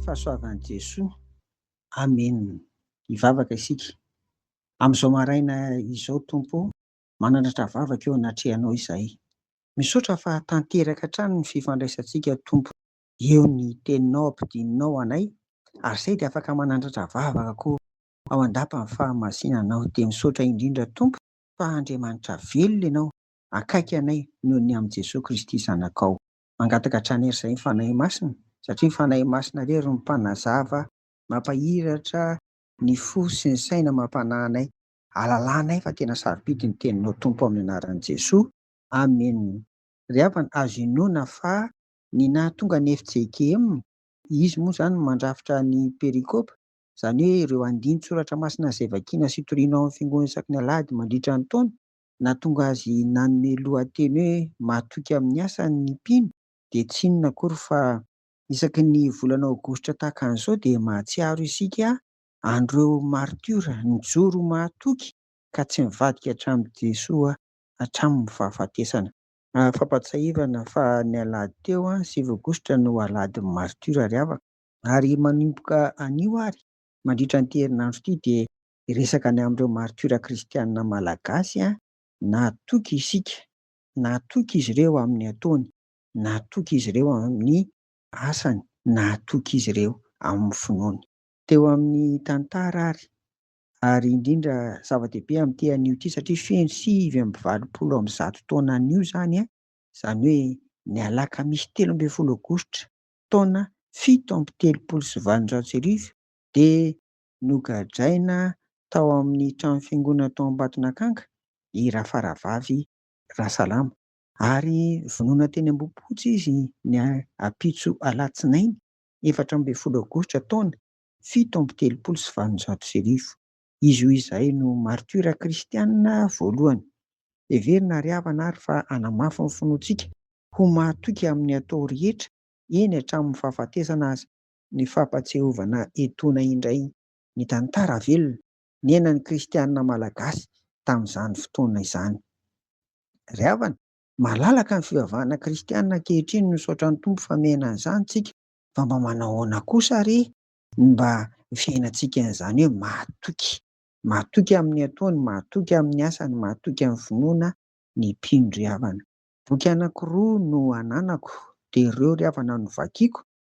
fahasoavan'i Jesoa. Amena. Hivavaka isika. Amin'izao maraina izao, Tompo, manandratra vavaka eo anatrehanao izahay. Misaotra fa tanteraka hatrany ny fifandraisantsika, Tompo. Eo ny teninao ampidininao anay, ary izay dia afaka manandratra vavaka koa ao an-dapan'ny fahamasinanao. Dia misaotra indrindra, Tompo, fa Andriamanitra velona ianao, akaiky anay noho ny amin'i Jesoa Kristy Zanakao. Mangataka hatrany ery izay ny Fanahy Masina, satria ny Fanahy Masina irery no mpanazava, mampahiratra ny fo sy ny saina, mampanahy anay, halalanay fa tena sarobidy ny Teninao Tompo amin'ny anaran'i Jesoa. Amen. Ry havana, azo inoana fa ny nahatonga ny fjkm, izy moa izany no mandrafitra ny perikopa, izany hoe ireo andinin-tsoratra masina izay vakiana sy toriana ao amin'ny fiangonana isaky ny alahady mandritra ny taona, Nahatonga azy nanome lohateny hoe Mahatoky amin'ny asany ny mpino dia tsy inona akory fa isaky ny volana aogositra tahaka an'izao dia mahatsiaro isika an'ireo martiora nijoro mahatoky ka tsy nivadika hatramin'i Jesoa hatramin'ny fahafatesana. Fampahatsiahivana fa ny alahady teo, sivy aogositra, no alahadin'ny martiora ry havana. Ary manomboka anio ary mandritra an'ity herinandro ity dia hiresaka ny amin'ireo martiora kristianina malagasy aho, nahatoky isika, nahatoky izy ireo amin'ny ataony, nahatoky izy ireo amin'ny asany, nahatoky izy ireo amin'ny finoany. Teo amin'ny tantara ary, ary indrindra zava-dehibe amin'ity anio ity satria feno sivy amby valopolo amby zato taona anio izany, izany hoe ny alakamisy telo ambin'ny folo aogositra taona fito amby telopolo sy valonjato sy arivo dia Nogadraina tao amin'ny trano fiangonana tao Ambatonakanga i Rafaravavy Rasalama ary vonoina teny Ambohipotsy izy ny ampitso alatsinainy efatra ambin'ny folo aogositra taona fito amby telopolo sy valonjato sy arivo. Izy io izay no martiora kristiana voalohany. Heverina ary havana ary fa hanamafy ny finoantsika ho mahatoky amin'ny atao rehetra, eny hatramin'ny fahafatesana aza. ny fampatsiahovana etona indray ny tantara velona niainan'ny kristiana malagasy tamin'izany fotoana izany. Ry havana, malalaka ny fivavahana kristiana ankehitriny misaotra ny Tompo fa miaina an'izany tsika fa mba manao ahoana kosa re ny mba fiainantsika an'izany hoe mahatoky mahatoky amin'ny ataony, mahatoky amin'ny asany, mahatoky amin'ny finoana ny mpino ry havana. Boky anakiroa no ananako dia ireo ry havana no vakiako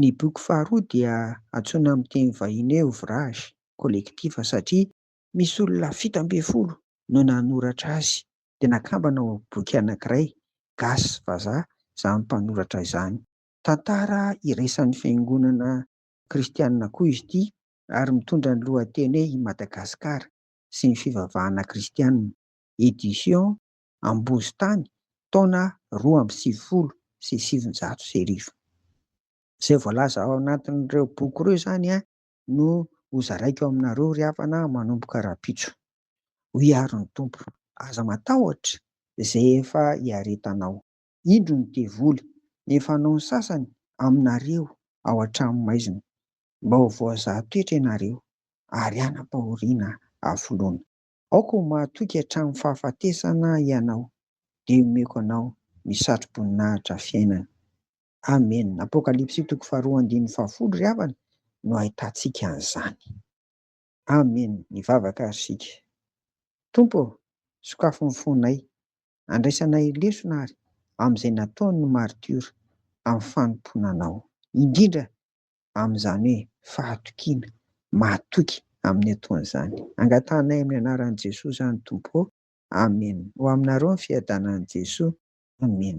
Ny boky faharoa dia antsoina amin'ny teny vahiny hoe Ouvrage collectif satria misy olona fito ambin'ny folo no nanoratra azy dia nakambana ho boky anankiray, gasy, vazaha, izany mpanoratra izany. Tantara iraisan'ny fiangonana kristianina koa izy ity ary mitondra ny lohateny hoe I Madagasikara sy ny fivavahana kristianina. Editions Ambozitany taona roa amby sivifolo sy sivinjato sy arivo. Izay voalaza ao anatin'ireo boky ireo izany no hozaraiko aminareo ry havana manomboka rahampitso. Hoy àry ny Tompo, Aza matahotra izay efa iaretanao. Indro ny devoly, ny efa hanao ny sasany aminareo ao an-tranomaizina, mba ho voazaha toetra ianareo, ary hanam-pahoriana hafoloana. Aoka ho mahatoky hatramin'ny fahafatesana ianao, dia omeko anao ny satroboninahitra fiainana. Amena. Apokalypsy toko faharoa andininy fahafolo ry havana no ahitantsika an'izany. Amena. Mivavaka ary isika. Tompo ô, sokafy ny fonay. Andraisanay lesona àry amin'izay nataon'ny maritiora amin'ny fanompoana Anao. Indrindra amin'izany hoe fahatokiana, mahatoky amin'ny ataon'izany. Angatahanay amin'ny anaran'i Jesoa izany Tompo ô, Amen. Ho aminareo ny fiadanan'i Jesoa, Amen.